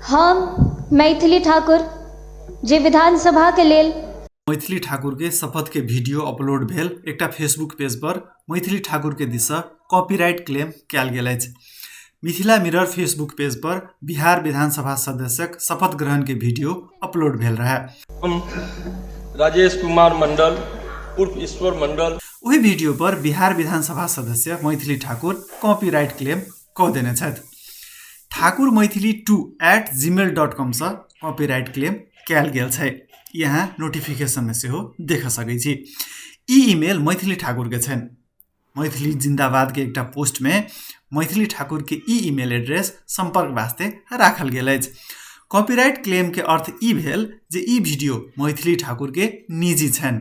हम मैथिली ठाकुर जे विधानसभाके लेल मैथिली ठाकुरके शपथके भिडियो अपलोड भेल एकटा फेसबुक पेजपर मैथिली ठाकुरके दिससँ कॉपीराइट क्लेम कयल गेल अछि मिथिला मिरर फेसबुक पेजपर बिहार विधानसभा सदस्यक शपथ ग्रहणके भिडियो अपलोड भेल रहए हम राजेश कुमार मंडल उर्फ ईश्वर मंडल ओहि भिडियोपर बिहार विधानसभा सदस्य मैथिली ठाकुर कॉपीराइट क्लेम कदेन छथि Thakur Maithili two eight Gmail dot कमसँ कॉपीराइट क्लेम कयल गेल छै ई अहाँ नोटिफिकेशनमे सेहो देख सकैत छी ई इमेल मैथिली ठाकुरके छनि मैथिली जिन्दाबादके एकटा पोस्टमे मैथिली ठाकुरके ई इमेल एड्रेस सम्पर्क वास्ते राखल गेल अछि कॉपीराइट क्लेमके अर्थ ई भेल जे ई भिडियो मैथिली ठाकुरके निजी छनि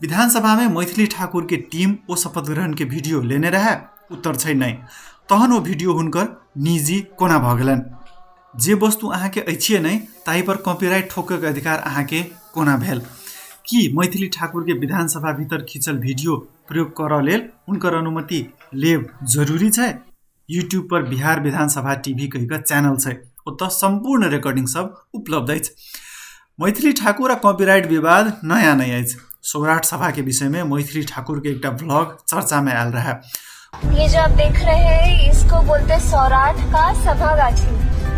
विधानसभा में मैथिली ठाकुर के टीम ओ शपथ ग्रहण के वीडियो लेने रहे उत्तर छै नहीं तहन ओ वीडियो हुनकर निजी कोना भऽ गेलन जे वस्तु अहाँके अछिए नहि ताहि पर कॉपीराइट ठोकके अधिकार अहाँके कोना भेल कि मैथिली ठाकुर के विधानसभा भीतर खींचल वीडियो प्रयोग करऽ लेल हुनकर अनुमति लेब जरूरी छै युट्युब पर बिहार विधानसभा टिभी कहिकऽ च्यानल छै ओतऽ सम्पूर्ण रेकर्डिङ सब उपलब्ध अछि मैथिली ठाकुर आ कॉपीराइट विवाद नया नहि अछि सौराठ सभा के विषय में मैथिली ठाकुर के एकटा ब्लॉग चर्चा में आयल रहे ये जो आप देख रहे हैं इसको बोलते सौराठ का सभा गाछी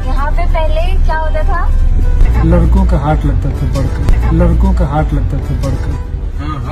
यहाँ पे पहले क्या होता था लड़कों का हाट लगता था बड़का लड़कों का हाट लगता था बड़का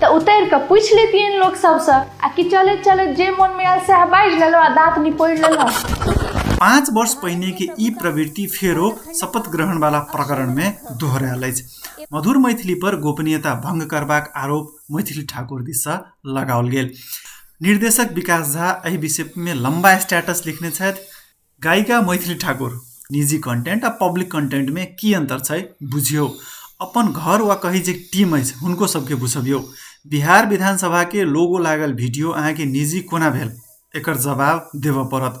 तऽ उतरि कऽ पूछि लेतियनि लोक सबसँ आ कि चलैत चलैत जे मोनमे आयल सएह बाजि लेलहुँ आ दाँत निपोड़ि लेलहुँ पाँच वर्ष पहिने के ई प्रवृत्ति फेरो शपथ ग्रहण वाला प्रकरण में दोहरायल अछि मधुर मैथिली पर गोपनीयता भंग करबाक आरोप मैथिली ठाकुर दिस लगाओल गेल निर्देशक विकास झा एहि विषय में लंबा स्टेटस लिखने छथि गायिका मैथिली ठाकुर निजी कन्टेन्ट आ पब्लिक कन्टेन्टमे की अन्तर छै बुझियौ अपन घर वा कही जे टीम अछि हुनको सबके बुझबियौ बिहार विधानसभाके लोगो लागल वीडियो अहाँके निजी कोना भेल एकर जवाब देबऽ पड़त